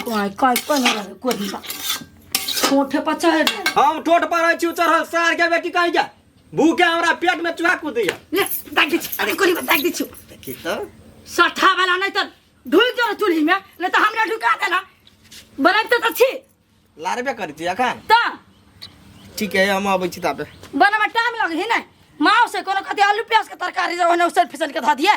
कोई कोई कोई ना रहे कोई दिशा कोठे पर चढ़ रहे हम टोट पर रहै छी चढ़ल सार के बेटी कहि जा भूखे हमरा पेट में चूहा कूदैया ले दाग दे अरे कोली दाग दे छु देखी तो सठा वाला नहीं तो ढुल जो चूल्ही में नहीं तो हमरा ढुका देला बनत तो छी लारबे करी छी अखन त ठीक है हम अबै छी तापे बनमे टाइम लगे है ना माँ से कोनो कते आलू प्याज के तरकारी जे ओने उसल फिसल के धऽ दिए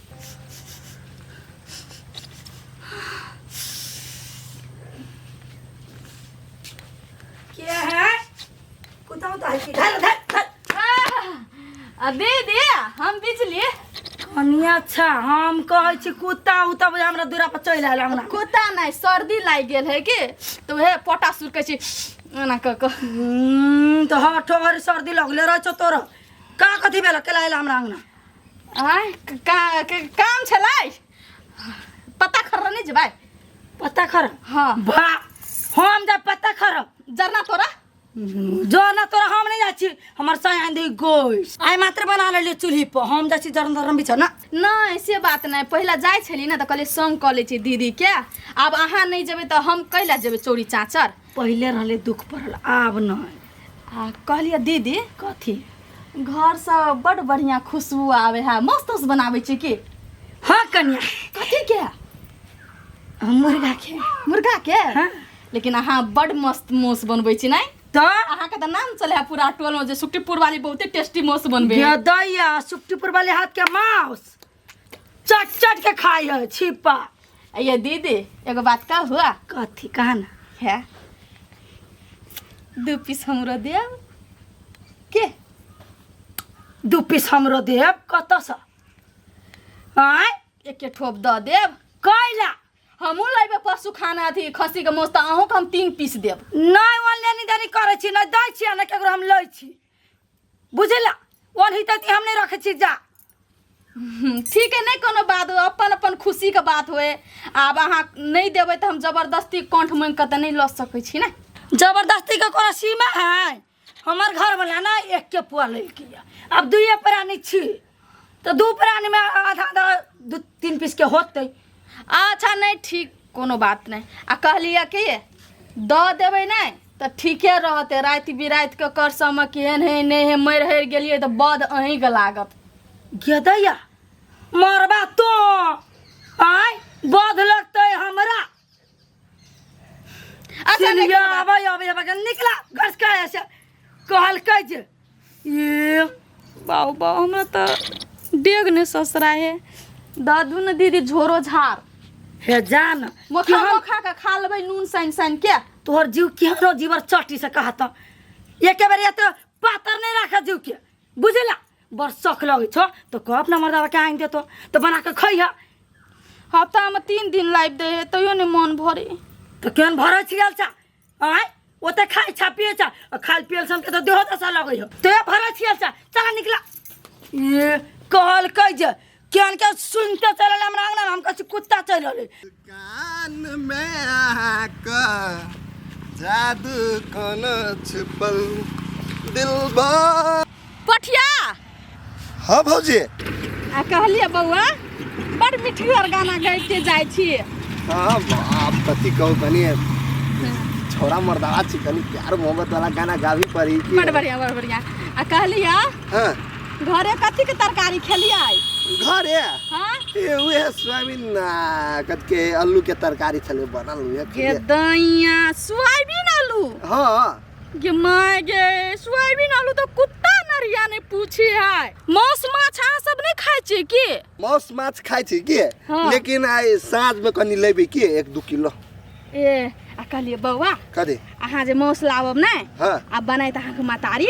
कनिया अच्छा हम कहै छी कुत्ता उता बुझा हमरा दूरा पर चलि आयल हमरा कुत्ता नहीं सर्दी लाग गेल है के तो हे पोटा सुर के छी एना क क हम्म, तो हर ठोहर सर्दी लगले रह छौ तोरा का कथी भेल केला आयल हमरा अंगना आय क- का- क- काम छलै पत्ता खर्रा नहीं जेबै पत्ता खर हाँ भा हम जा पत्ता खर जरना तोरा जो ना तोरा हम नहीं जाची हमर सयांदी गोइस आय मात्र बना लेलिए चूल्ही पर हम जाची जरन धरम बिछ ना नहीं से बात नहीं पहला जाए छली ना तो कहले संग कऽ ले छी दीदी के आब अहाँ नहीं जेबै तऽ हम कैला जेबै चोरी चाचर पहिले रहले दुख पड़ल आब नहीं आ कहलिए दीदी कथी घर से बड़ बढ़िया खुशबू आवे है मस्त उस बनावे छी की हाँ कन्या कथी के मुर्गा के मुर्गा के हाँ। लेकिन अहाँ बड़ मस्त मोस बनबै छी नहीं तो अहाँ के तऽ नाम चले है पूरा टोल में जे सुक्तिपुर वाली बहुते टेस्टी मोस बनबे है। गदैया सुक्तिपुर वाले हाथ के माउस चट चट के खाई है छिपा आ ये दीदी एगो बात का हुआ कथी कहा ना है दू पीस हमरो दे के दू पीस हमरो देब कतऽ से आय एक के ठोप दऽ देब कैला हमहूँ लेबै पशु खाना अथी खस्सीके मौस तऽ अहूँके हम तीन पीस देब नहि ऑनलाइन इधर करै छी नहि दै छी आ नहि ककरो हम लै छी बुझला ओनही तक हम नहीं रखे छी जा हम्म, ठीक है नहीं कोनो बात हो अपन अपन खुशी के बात होए आब अहाँ नहीं देबै तऽ हम जबरदस्ती कंठ मांगि कऽ तऽ नहीं लऽ सकै छी ने जबरदस्ती के कोनो सीमा है हमर घर वाला ना एक के पुआ लेलकै अब दुए प्राणी छी तऽ दू प्राणीमे आधा आधा दू तीन पीसके होतै अच्छा नहि ठीक कोनो बात नहि आ कहलियै कि दऽ देबै नहि तऽ ठीके रहतै राति बिरातिके कर समय केहन है नहि है मरि हरि गेलियै तऽ बद अहीँके लागत गेदैया मरबा तो आय बध लगतै हमरा अच्छा चलिए निकल बाबा। आबै आबै आबै के निकला घर से काहे से कहलकै जे ये बाबू बाबू हमरा तऽ डेग ने ससरा हे दादू ने दीदी झोरो झार हे जान मोखा मोखा के खा लेबै नून सानि सानि के तोहर जीव केहनो जीवर चट्टी से कहत एके बेर एते पातर नहीं रख जीव के बुझला बड़ शौक लगे छो तो कह अपना मर्दावा के आइन देतो तो बना के खइह हफ्ता में तीन दिन लाइव दे है तैयो नहीं मन भरे तो केहन भरे छियल छा आय ओते खाइ छा पिए छा आ खाल पियल सन के तो देहो दशा लगे हो तो ये भरे छियल छा चला निकला ये कहल कह जे केहन के सुन के चल रहले हमरा अंगना में, हम कहै छी कुत्ता चल रहले कान में आका जादू कोना छिपल दिलबा पठिया हाँ भौजी आ कहलिए बौआ बड़ मिठगर गाना गाइते जाइ छी हाँ बाप कथी कहू तनी छोरा मर्दावा छी तनी प्यार मोहब्बत वाला गाना गाबी पड़ी बड़ बढ़िया बड़ बढ़िया आ कहलिए हाँ घरे कथी के तरकारी खेलिए घरे हाँ ए उहे सोयाबीन ना कद के आलू के तरकारी छले बनल उहे ये खइए। दैया सोयाबीन आलू हाँ ये माय गे सोयाबीन आलू तो कुत्ता नरिया ने पूछे है मांस माछ अहाँ सब नहीं खाए छी की मौस माछ खाइ छी के हाँ। लेकिन आइ साँझ में कनी लेबे के एक दू किलो ए आ कहलिए बौआ कदे अहाँ जे माउस लाबब ने हाँ आ बनाए तऽ अहाँके मतारी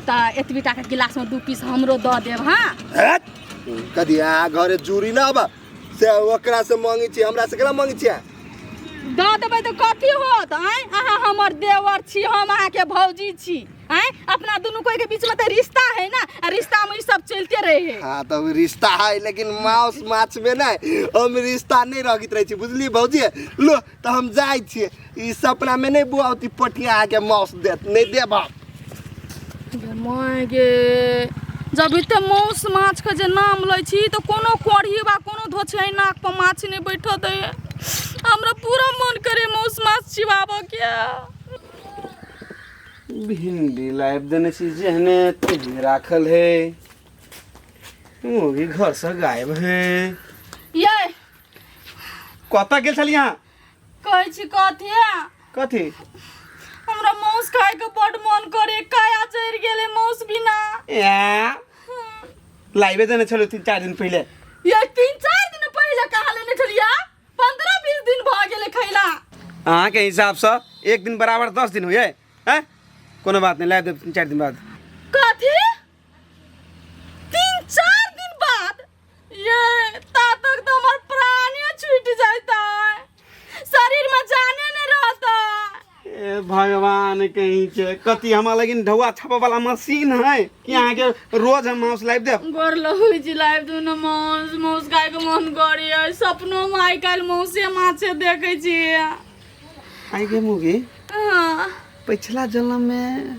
तऽ एतबी टाके गिलासमे दू पीस हमरो दऽ देब हाँ हट कदे आ घरे जूरी ना बा से ओकरा से मांगी छी हमरा से केना मांगी छी दऽ देबै तऽ कथी होत आँय अहाँ हमर देवर छी हम अहाँके भौजी छी हैं अपना दोनों कोई के बीच में तो रिश्ता है ना आ रिश्ता में ई सब चलते रहे है हाँ तो अब रिश्ता है लेकिन माउस माछ में नहीं हम रिश्ता नहीं रखित रहे छी बुझलिए भौजी लो तो हम जाए छी ई सपना में नहीं बुआती पटिया आके माउस देत नहीं देब हम। गे माय गे जब एते मौस माछ के जे नाम लै छी तऽ कोनो कोढ़ी वा कोनो धोछै नाक पर माछ नहि बैठऽ दै हमरा पूरा मन करे मौस माछ चिबाबऽ के भिंडी लाबि देने छी जेहने तेहने राखल है मुर्गी घर से गायब है ये कतऽ गेल छलियै अहाँ कहै छी कथी कथी हमरा माउस खाय के बड मन करे काया चढ़ि गेले माउस बिना ए लाइबे देने छलौ तीन चारि दिन पहिले ये तीन चार दिन पहिले कहाँ लेने छलिया पंद्रह बीस दिन भऽ गेलै खैला अहाँके हिसाबसँ एक दिन बराबर दस दिन होइए हैं कोनो बात नहीं ला देब तीन चारि दिन बाद कथी तीन चार दिन बाद ये ता तक तो हमर प्राणे छूट जाता शरीर में जाने नहीं रहता ए भगवान कहीं के कति हमरा लगिन ढौआ छापे वाला मशीन है कि अहाँ के रोज हम माउस लाइव देब गोर लहु जिलाय दुनो मौस मौस खाय के मन करी है सपनो में आइ काल्हि मौसे माछे देखै छी आइ गे मुगी हाँ। पिछला जन्म में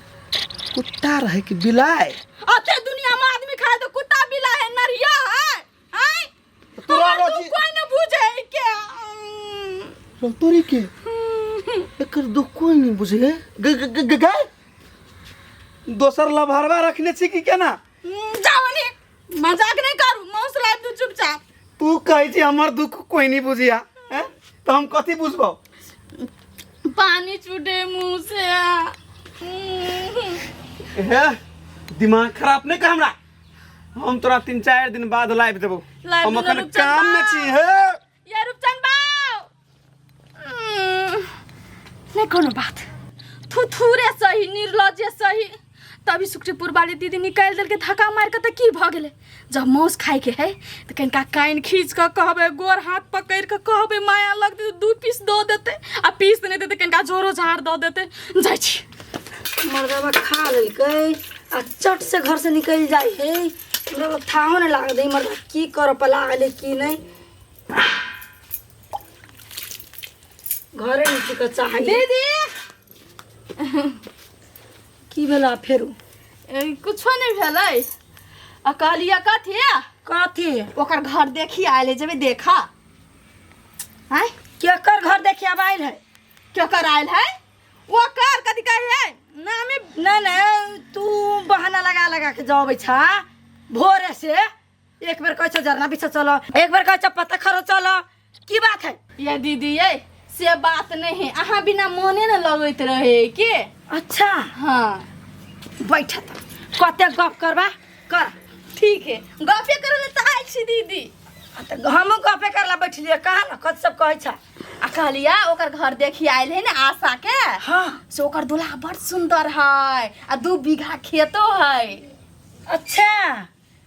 कुत्ता रहे कि बिलाय अते दुनिया में आदमी खाए तो कुत्ता बिला है नरिया है आय तोरा हमर रोटी- दुख कोई न बुझे है क्या चल तोरी के एकर दुख कोई नहीं बुझे गे गे गे- गे गे गाय दोसर लभरवा रखने छी कि केना हम्म, जाओ ने मजाक नहीं करू माउस ला तू चुपचाप तू कहै छी हमर दुख कोई नहीं बुझिया हैं? तो हम कथी बुझबौ पानी छूटे मुंह से हम्म। हे दिमाग खराब नहीं कर हमरा हम तोरा तीन चार दिन बाद लाइव देबो लाइव हम देबो, अखन रुपचन काम में बा। छी हे ये रूपचन बाऊ हम्म, नहीं कोनो बात थू थूरे सही निर्लजे सही तभी सुक्रीपुर वाली दीदी निकाल देलके धक्का मार के त की भ गेले जब मौस खाए के है त कनिका कान खींच के कहबे गोर हाथ पकड़ के कहबे माया लगते दू पीस दो देते आ पीस नहीं देते कनिका झोरो झाड़ दो देते जाइ छी मर्दवा खा लेलकै आ चट से घर से निकल जाए है हमरा तो थाहो नहीं लाग दी मर्दवा की कर पर लागल है की नहीं घरे नहीं टिक चाहिए दीदी की भेला फेरू ए, कुछो नहीं भेलै आ कहलिया कथी कथी ओकर घर देखी आयल जेबे देखा आय केकर घर देखे अब आयल है केकर आयल है ओकर कथी कहे है नामे नहीं नहीं तू बहाना लगा लगा के जावे छा भोरे से एक बेर कहे छो जरना पीछे चलो एक बेर कहे छो पत्ता खरो चलो की बात है ये दीदी ये से बात नहीं है अहाँ बिना मोने न लगैत रहे के अच्छा हाँ बैठा त कते गप करबा कर ठीक है गपे करे ले ताल छी दीदी आ त हमहूँ गपे करला बैठलिए कहा न कत सब कहै छा आ कहलिया ओकर घर देखी आयल है ना आशा के हाँ से ओकर दुल्हा बड़ सुंदर है आ दू बीघा खेतो है अच्छा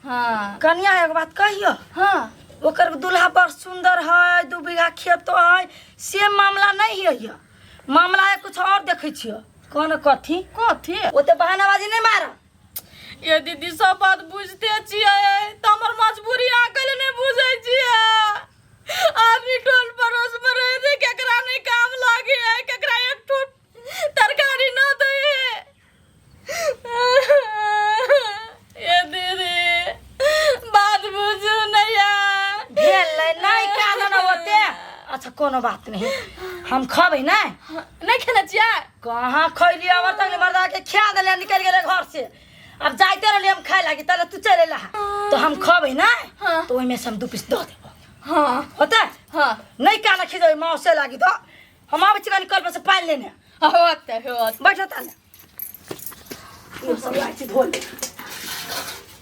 हाँ कनिया एगो बात कहियो हाँ ओकर दुल्हा बड़ सुंदर है दू बीघा खेतो है से मामला नहीं है ये। मामला है कुछ और देखे छियो कौन कथी कथी वो तो बहानाबाजी नहीं मारा ये दीदी सब बात बुझते छियै तऽ हमर मजबूरी अहाँ कैले नहि बुझै छियै आदमी टोल पड़ोस में रहे थे केकरा नहीं काम लागे है केकरा एक ठो तरकारी ना दे है ये दीदी बात बुझू नैया भेलै नहि कानऽ न ओते अच्छा कोनो बात नहीं हम खबै नहि नहीं खाना चाहिए कहाँ खैली अब तक मर्दा के खिया देले निकल गेले घर से अब जाते रहली हम खाए लागी तले तू चले ला तो हम खबै ना हाँ। तो ओइमे से हम दू पीस दऽ देबो हाँ होता हाँ नहीं काना खिदो माँ से लागी तो हम आबै छिकन कल पर से पानि लेने होत होत बैठो ताले यो सब लाइ छी धोल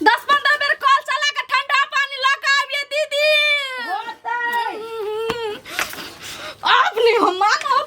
दस पंद्रह बेर कॉल चला के ठंडा पानी ला के आबिए दीदी होतै अब नहीं हम मानब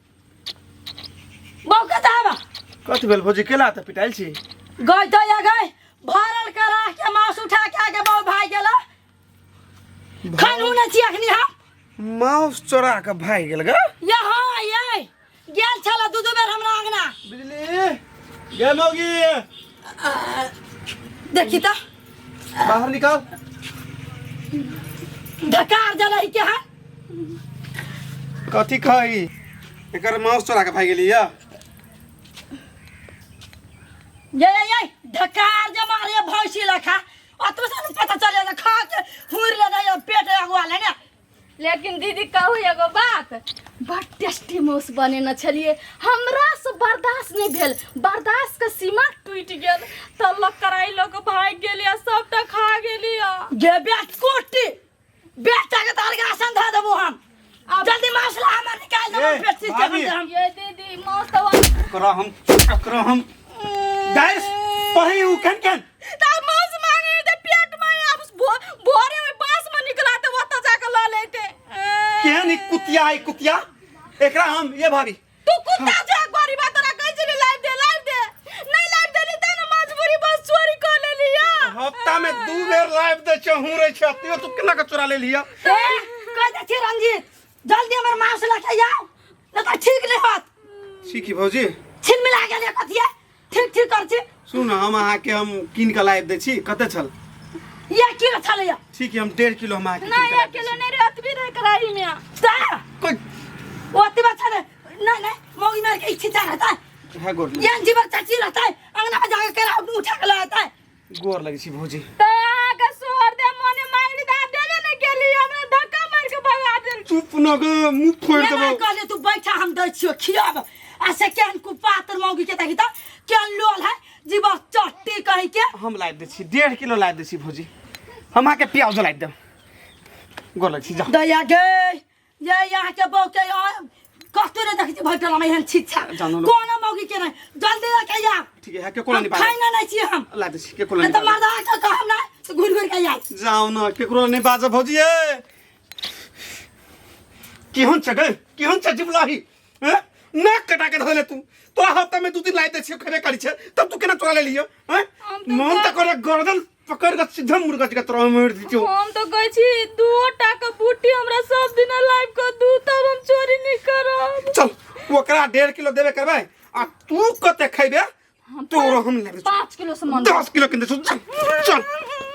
बहू के जाबा कथी भेल भौजी केला तऽ पिटाइल छी गई तो या गई भरल करा के मांस उठा के आके बहू भाई गेला खान होने छी अखनी हम माउस चोरा के भाग गेल ग यहाँ ये गेल छला दू दू बेर हमरा अंगना बिजली गे मौगी देखी तो बाहर निकाल ढकार जलही के है कथी खाई एकर माउस चोरा के भाग गेली यऽ ये ये ये ढकार जे मारे भैंसी लखा अतु से पता चले जे खा के हुर ले जाए पेट अगवा ले ने लेकिन दीदी कहू एगो बात बड़ टेस्टी माउस बनेने छलिए हमरा से बर्दाश्त नहीं भेल बर्दाश्त के सीमा टूट गेल तब लोग कराई लोग भाग गेलिए सबटा खा गेलिए जे बेट कोटी बेटा के तार के आसन धर देबो हम अब जल्दी मसला हमर निकाल देबो ए, पेट से भाभी। हम ये दीदी मौत हुआ ओकरा हम ओकरा हम गैस पही उ कन कन ता मांस मांगे ते पेट में अब भो- भोरे में बांस में निकला ते वत जाके ल लेते केहन ई कुतिया है कुतिया एकरा हम ये भाभी तू कुत्ता छै गोरी बात तोरा कहै छी लाइव दे लाइव दे नहीं लाइव देली त ना मजबूरी बस चोरी कर लेली या हफ्ता में दू बेर लाइव दे छै हूं रे छै तू तू केना के चोरा लेली या ए कह दे छी रंजीत जल्दी हमर मां से लटा जाओ न त ठीक नहीं होत छी की भौजी छिन मिला गेल कथिया ठीक ठीक कर छी सुन ने हम अहाँके हम कीन कऽ लाबि दै छी कते छल ये किलो छलैया ठीक है हम डेढ़ किलो हम अहाँके नहीं कीन एक कऽ लाबि दै किलो नहीं रे अतबी रहे कराई में ता छी। कोइ ओते बच्चा रे नहीं नहीं मौगी मार के इच्छा रहता है है गोर ये जीवर चाची रहता है अंगना में जाके केरा उठा के लाता है गोर लगै छी भौजी त आगे सोहर दे मने मांगली त आप देबे न केली हमरा धक्का मार के भगा देल चुप न गे मुंह फोड़ देबो केना कहले तू बैठा हम दै छियो खियाब आ से केहन कुपातर मौगी के देखी त केहन लोल है जीवा चट्टी कहि के हम लाइब दै छी डेढ़ किलो लाइब दै छी भौजी हम अहाँके प्याज लाइब देब गोर लगै छी जा दया गे ये यहाँ के बहु के कस्तूर देख छी भटल हम एहन छिछा जानो लोग। कोनो मौगी के नहीं जल्दी लेके आ ठीक है के कोला हम नहीं पाए खाइना नहीं छी हम ला दे छी, के कोला नहीं नहीं तो पाए मर्दा के कहम ना तो घुर घुर के आई जाओ ना के कोला नहीं बाजा भौजी ए केहन छगे केहन छ जिबलाही हैं ना कटा के धले तू तोरा हफ्ता में दू दिन लाई दे छी खरे करी छे तब तू केना चोरा ले लियो हैं हम तो मन जा- त करे गर्दन पकड़ के सीधा मुर्गा के तरह मार दीजियो हम तो कहै छी दू टाका बूटी हमरा सब दिन लाइव कर दू तब हम चोरी नहीं करब चल ओकरा डेढ़ किलो देबे करबै आ तू कते खैबे तोरो हम लेबे पाँच किलो सामान दस किलो किन दे चल